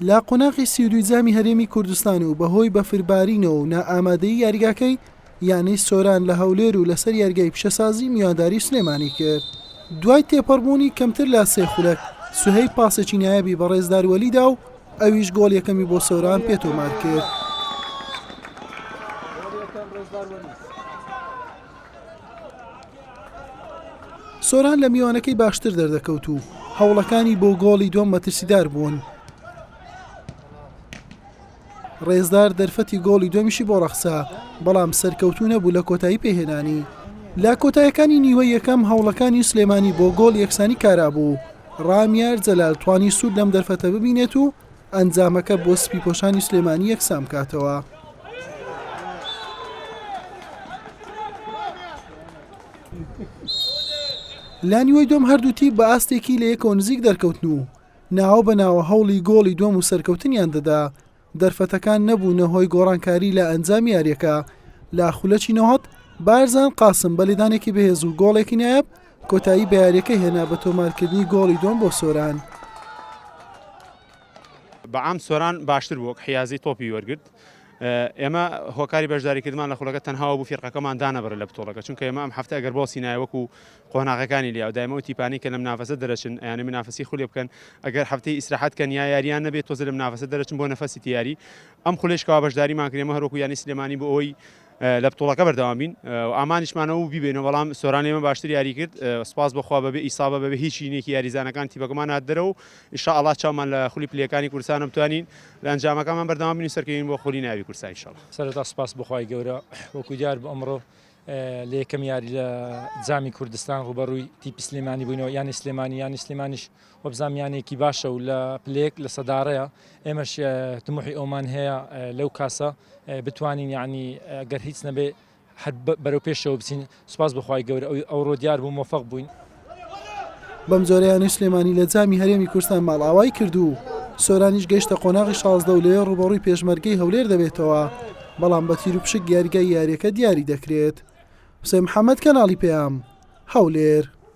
لە قۆناغی سی و دووی جامی هەرێمی کوردستان و بەهۆی بەفربارینەوە و نائامادەی یاریگاکەی یانەی سۆران لە هەولێر و لەسەر یاریگای پیشەسازی میوانداری سلێمانی کرد دوای تێپەڕبوونی کەمتر لە سێ خولەک سوهەیب پاسێکی نایابی بە ڕێزدار وەلیدا و ئەویش گۆڵ یەکەمی بۆ سۆران پێتۆمار کرد. سۆران لە میوانەکەی باشتر دەردەکەوت و هەوڵەکانی بۆ گۆڵی دووەم مەترسیدار بوون. ڕێزدار دەرفەتی گۆڵی دومیشی بۆ ڕەخسا بەڵام سەرکەوتو نەبوو لە کۆتایی پێهێنانی لە کۆتایەکانی نیوە یەکەم هەوڵەکانی سلێمانی بۆ گۆڵ یەکسانی کارابوو ڕامیار جەلال توانی سوود لەم دەرفەتە ببینێت و ئەنجامەکە بۆ سپیپۆشانی سلێمانی یەکسان بکاتەوە. لانیوەی دۆم هەردوو تیپ بە ئاستێکی لە یەکەوە نزیک دەرکەوتن و ناوە بە ناوە هەوڵی گۆڵی دۆم و سەرکەوتنیان دەدا دەرفەتەکان نەبوونە هۆی گۆڕانکاری لە ئەنجام یاریەکە لە خولەکی نەهات بارزان قاسم بە لێدانێکی بەهێز و گۆڵێکی نایب کۆتایی بە یارییەکە هێنا بە تۆمارکردنی گۆڵی دووەم بۆ سۆران. بەعام سۆران باشتر بوو وەک حیازی تۆپی وەرگرت ئێمە هۆکاری بەشداریکردمان لە خولەکە تەنهاوە بوو فیرقەکەمان دانەبڕ لە بتۆڵەکە چونکە ئێمە ئەم هەفتە ئەگەر باسی نایە وەکو قۆناغەکانی لیا دایمە و تیپانی کە لەم نافەسە دەرەچن یانی منافسی خولێ بکەن ئەگەر هەفتەی ئیسراحەت کەن یا یاریان نەبێت تۆزە لەم نافەسە دەرەچن بۆ نەفەسی تیاری ئەم خولێشکەوە بەشداریمان کرێمە هەروکو یانی سلێمانی بۆ ئەوی لە بتوڵەکە بەردەوام بین و ئامانجمان ئەوبوو بیبەینەوە، بەڵام سۆران لێمە باشتر یاری کرد، سوپاس بۆ خوا بەبێ ئیسابە بەبێ هیچ شینێکی یاریزانەکان تیپەکەمان هات دەرەوە و ان شاء اللە چاومان لە خولی پلەکانی کوردستانە بتوانین لە ئەنجامەکانمان بەردەوام بین و سەرکەوین بۆ خولی نایابی کوردستان ان شاء اللە. سەرەتا سوپاس بۆ خوای گەورە وەکو دیار بوو ئەمڕۆ لە یەکەم یاری لە جامی کوردستان ڕووبەڕووی تیپی سلێمانی بووینەوە یانی سلێمانی یانی سلێمانیش وەبزانم یانەیەکی باشە و لە پلەیەک لە سەدارەیە ئێمەش تموحی ئەومان هەیە لەو کاسە بتوانین یعنی گەر هیچ نەبێ هەر بەرەو پێشەوە بچین سوپاس بخوای گەورە ئەوی ئەو ڕۆ دیار بوو مۆفەق بووین بەم جۆرەیانەی سلێمانی لە جامی هەرێمی کوردستان ماڵئاوای کرد و سۆرانیش گەیشتە قۆناغی شازدە و لەوێ ڕوبەڕووی پێشمەرگەی هەولێر دەبێتەوە بەڵام بە تیر و پشک یاریگای یاریەکە دیاری دەکرێت حسێن محەممەد کەناڵی پەیام هەولێر